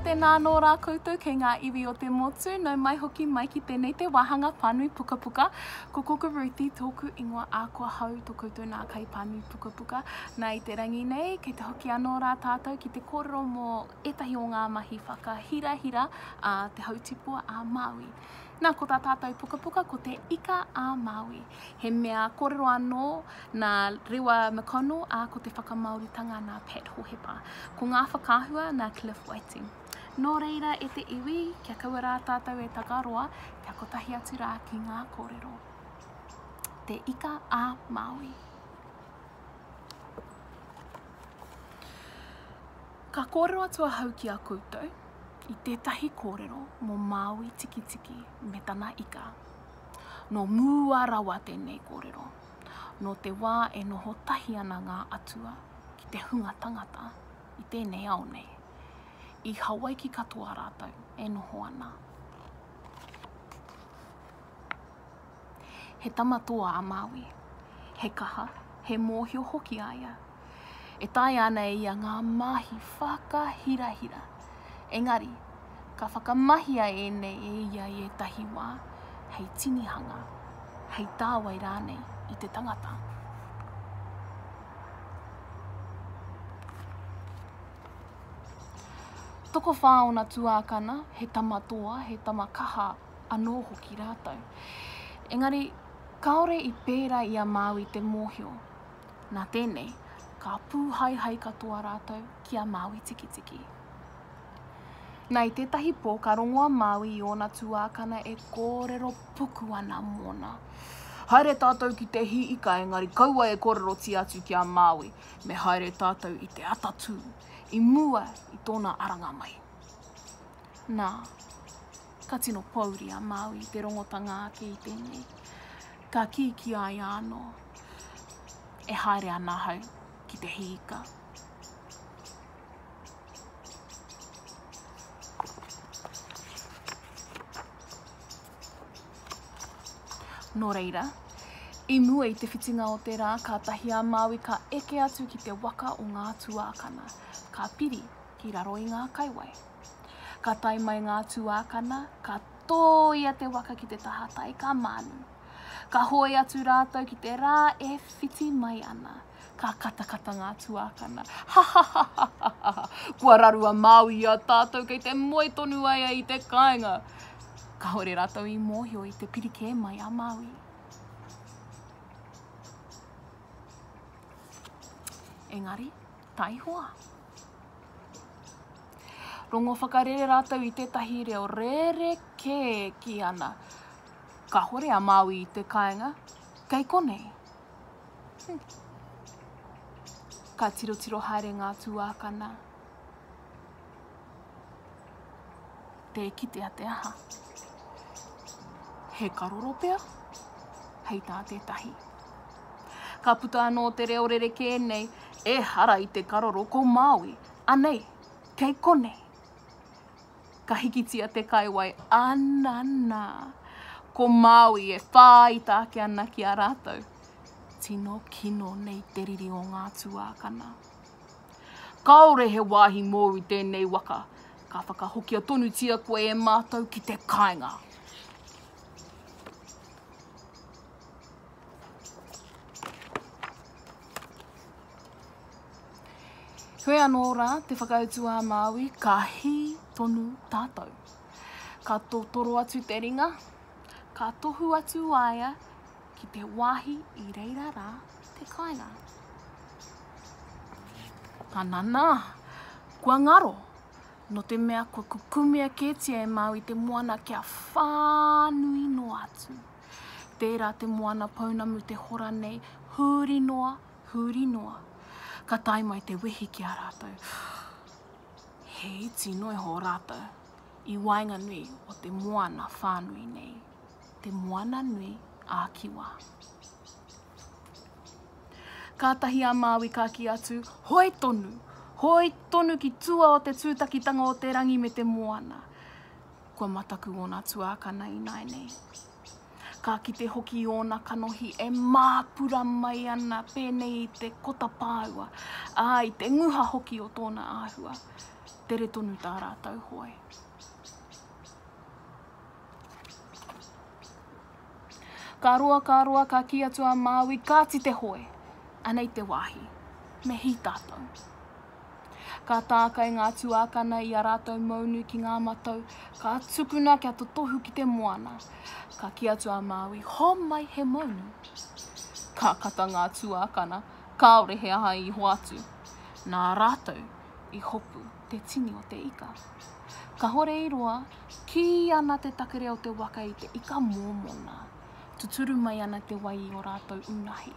tēnā anō rā koutou kei ngā iwi o te motu, nau mai hoki mai ki tēnei te wāhanga pānui pukapuka. Ko Koka Ruthi tōku ingoa ā kua hau tō koutou nā kai pānui pukapuka. Nā i te rangi nei, kei te hoki anō rā tātou ki te kōrero mō ētahi o ngā mahi whakahirahira a Te Hautipua a Māui. Nā, ko tā tātou pukapuka ko Te Ika a Māui. He mea kōrero anō nā Rewa McConnell, ā, ko te whakamāoritanga nā Pat Hohepa. Ko ngā whakaahua nā Cliff Whiting. Nō reira e te iwi, kia kaua rā tātou e takaroa, kia kotahi atu rā ki ngā kōrero. Te Ika a Māui. Ka kōrero atu ahau ki a koutou i tētahi kōrero mō Māui Tikitiki me tana ika. Nō mua rawa tēnei kōrero, nō te wā e noho tahi ana ngā atua ki te hunga tangata i tēnei ao nei. I Hawaiki katoa rātou e noho ana. He tama toa a Māui. He kaha, he mōhio hoki a ia. E taea ana e ia ngā mahi whakahirahira. Engari, ka whakamahia ēnei e ia i ētahi wā, hei tinihanga, hei tāwai rānei i te tangata. Tokowhā ōna tuākana, he tama toa, he tama kaha anō hoki rātou. Engari, kāore i pērā i a Māui te mōhio. Nā tēnei, ka pūhaehae katoa rātou ki a Māui Tikitiki. Nā, i tētahi pō, ka rongo a Māui i ōna tuākana e kōrero puku ana mōna. Haere tātou ki te hī ika, engari kaua e kōrerotia atu ki a Māui, me haere tātou i te atatū, i mua i tōna aranga mai. Nā, Ka tino pōuri a Māui i te rongotanga ake i tēnei. Ka kī ki a ia anō, E haere ana ahau ki te hīika. Nō reira, i mua i te whitinga o te rā, kātahi a Māui ka eke atu ki te waka o ngā tuākana, ka piri ki raro i ngā kaiwai. Ka tae mai ngā tuākana, ka tōia te waka ki te tahatai, ka mānu. Ka hoe atu rātou ki te rā e whiti mai ana. Ka katakata ngā tuākana. Ha ha ha ha ha ha ha! Kua raru a Māui i a tātou kei te moe tonu ai ai i te kāinga. Kāore rātou i mōhio i te piri kē mai a Māui. Engari, taihoa. Rongo whakarere rātou i tētahi reo rerekē ki ana. Kahore a Māui i te kāinga, kei konei. Ka tirotiro haere ngā tūākana. tē kitea te aha. He karoro pea, hei tā tētahi. Ka puta anō te reo rerekē nei, e hara i te karoro ko Māui, anei, kei konei. Ka hikitia te kaiwai, anana, ko Māui e whāita ake ana ki a rātou. Tino kino nei te riri o ngā tuākana. Kāore he wāhi mōu i tēnei waka, ka whakahokia tonutia koe e mātou ki te kāinga. Heoi anō rā te whakautu a Māui, ka hī tonu tātou. Ka totoro atu te ringa, ka tohu atu waea, ki te wāhi i reira rā te kāinga. Ananā, kua ngaro, no te mea kua kukumea kētia e Māui te moana kia whānui noa atu. Tērā te moana pounamu te hora nei, huri noa, huri noa. Ka tae mai te wehi ki a rātou. He iti noa iho rātou i waenganui o te moana whānui nei. te Moana Nui a Kiwa. Kātahi a Māui ka kī atu, Hoi tonu! Hoi tonu ki tua o te tūtakitanga o te rangi me te moana! Kua mataku ōna tuākana ināinei. Ka kite hoki i ōna kanohi e māpura mai ana pēnei i te kota pāua, ā, i te nguha hoki o tōna āhua. Tere tonu tā rātou hoe. Ka roa, ka roa, ka kī atu a Māui, Kāti te hoe! Anei te wāhi. Me hī tātou. Ka tākai ngā tuākana i ā rātou mounu ki ngā matau, ka tukuna kia totohu ki te moana. Ka kī atu a Māui, Homai he mounu! Ka kata ngā tuākana, kāore he aha i hoatu. Nā rātou i hopu te tini o te ika. Kahore i roa, Kī ana te takere o te waka i te ika mōmona, tuturu mai ana te wai i ō rātou unahi.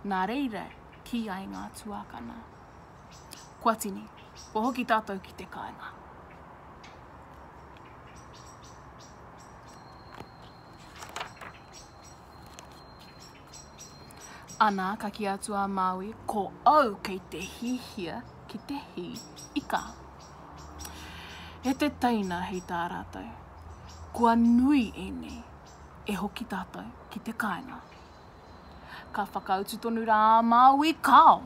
Nā reira, kī ai ngā tuākana, Kua tini, kua hoki tātou ki te kāinga. Ana, ka ki atu a Maui, ko au kei te hihia ki te hi ika. E te teina hei tā rātou, kua nui ēnei, e hoki tātou ki te kāinga. Ka whakautu tonu rā a Maui, kāo!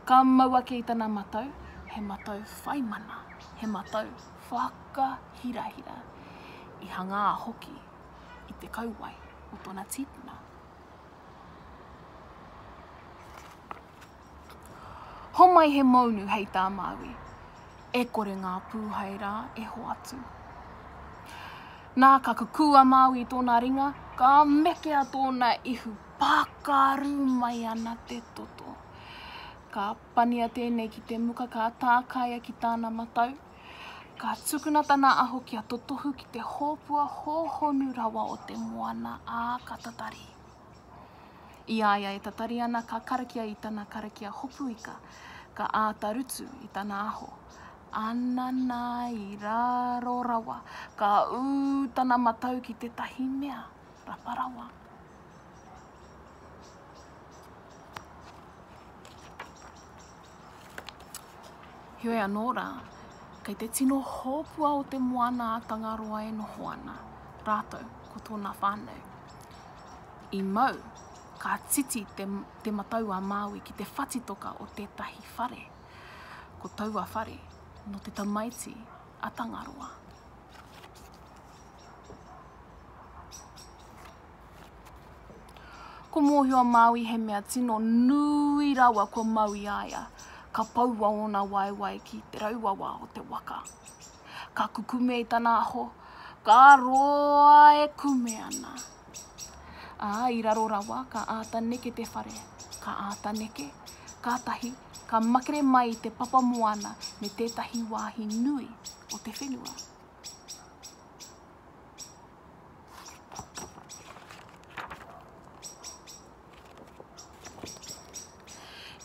Ka mau ake i tana matau, he matau whaimana, he matau whakahirahira, i hangā hoki i te kauae o tona tipuna. Homai he mounu hei tā Māui, e kore ngā pūhai rā e hoatu. Nā ka kukū a Māui i tōna ringa, ka mekea tōna ihu, pākārū mai ana te toto. Ka pania tēnei ki te muka, ka tākaia ki tāna matau, Ka tukuna tana aho kia totohu ki te hōpua hōhonu rawa o te moana, ā, ka tatari. I a ia e tatari ana ka karakia i tana karakia hopuika, ka āta rutu i tana aho. Anana i raro rawa, ka ū tana matau ki tētahi mea rapa rawa. Heoi anō rā, kei te tino hōpua o te moana a Tangaroa e noho ana, rātou ko tōna whānau. I mau, ka titi te, te matau a Māui ki te whatitoka o tētahi whare. Ko taua whare, no te tamaiti a Tangaroa. Ko Mōhio Māui he mea tino nui rawa kua mau i a ia. Ka poua ōna waewae ki te rauawa o te waka. Ka kukume i tana aho, ka roa e kume ana. Ā, i raro rawa, ka āta neke te whare. Ka āta neke, kātahi, ka makere mai i te papa moana me tētahi wāhi nui o te whenua.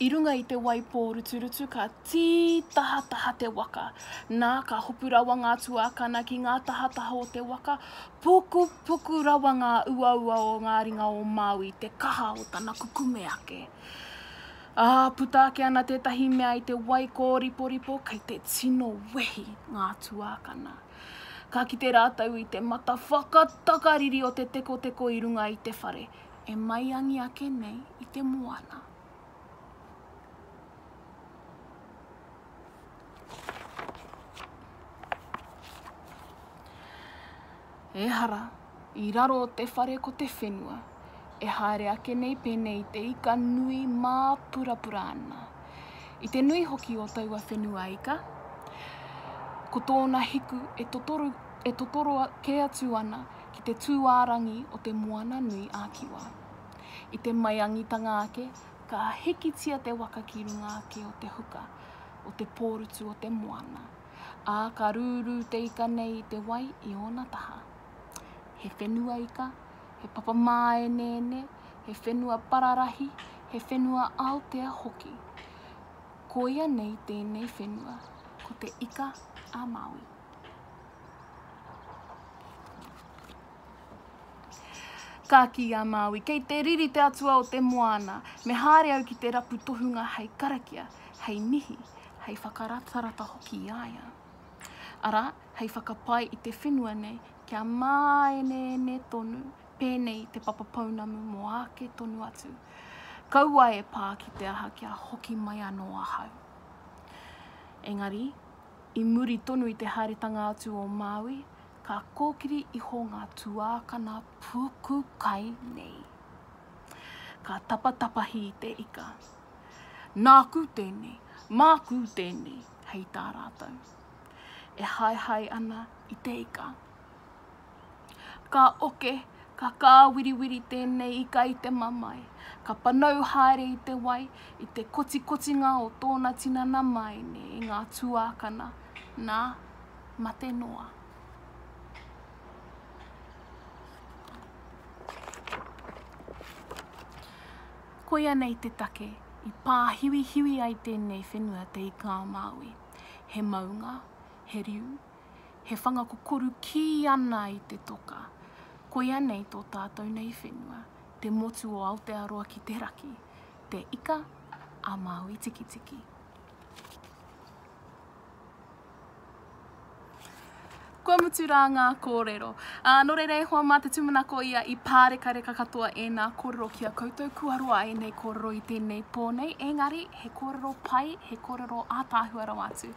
I runga i te wai pōruturutu ka tītahataha te waka. Nā, ka hopu rawa ngā tuākana ki ngā tahataha o te waka, pukupuku rawa ngā uaua o ngā ringa o Māui i te kaha o tana kukume ake. Ā, puta ake ana tētahi mea i te wai kōriporipo, kei te tino wehi ngā tuākana. Ka kite rātou i te mata whakatakariri o te tekoteko i runga i te whare, e maiangi ake nei i te moana. Ehara, I raro o te whare ko te whenua. E haere ake nei pēnei i te ika nui māpurapura ana. I te nui hoki o taua whenua ika, ko tōna hiku e totoru, e totoro kē atu ana ki te tūārangi o te moana nui a Kiwa. I te maiangitanga ake, ka hikitia te waka ki runga ake o te huka, o te pōrutu o te moana, ā, ka rūrū te ika nei i te wai i ōna taha. He whenua ika, he papa māeneene, he whenua pararahi, he whenua Aotea hoki. Koia nei tēnei whenua, ko Te Ika a Māui. Ka kī a Māui, kei te riri te atua o te moana, me haere au ki te rapu tohunga hei karakia, hei mihi, hei whakaratarata hoki i a ia. Arā, hei whakapae i te whenua nei kia māeneene tonu pēnei te papa pounamu mō āke tonu atu. Kaua e pā ki te aha kia hoki mai anō ahau. Engari, i muri tonu i te haeretanga atu o Māui, ka kōkiri iho ngā tuākana puku kai nei. Ka tapatapahi i te ika. Nāku tēnei, māku tēnei, hei tā rātou. e haehae ana i te ika. Ka oke, ka kāwiriwiri tēnei ika i te mamae, ka panau haere i te wai, i te kotikotinga o tōna tinana māene i ngā tuākana, nā, mate noa. Koia nei te take i pāhiwihiwi ai tēnei whenua te ika a Māui. He maunga, he riu, he whanga kokoru kī ana i te toka, koia nei tō tātou nei whenua, te motu o Aotearoa ki te raki, te Ika a Māui Tikitiki. Kua mutu rā ngā kōrero. Ā, nō reira e hoa mā te tūmanako ia i pārekareka katoa ēnā kōrero ki a koutou kua roa ēnei kōrero i tēnei pō nei, ēngari he kōrero pai, he kōrero ātaahua rawa atu.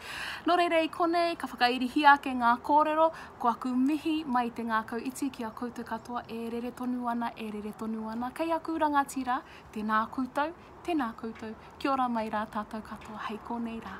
Nō reira i konei ka whakairihia ake ngā kōrero, ko aku mihi mai i te ngākau iti ki a koutou katoa e rere tonu ana, e rere tonu ana kei aku rangatira, tēnā koutou, tēnā koutou, kia ora mai rā tātou katoa hei konei rā.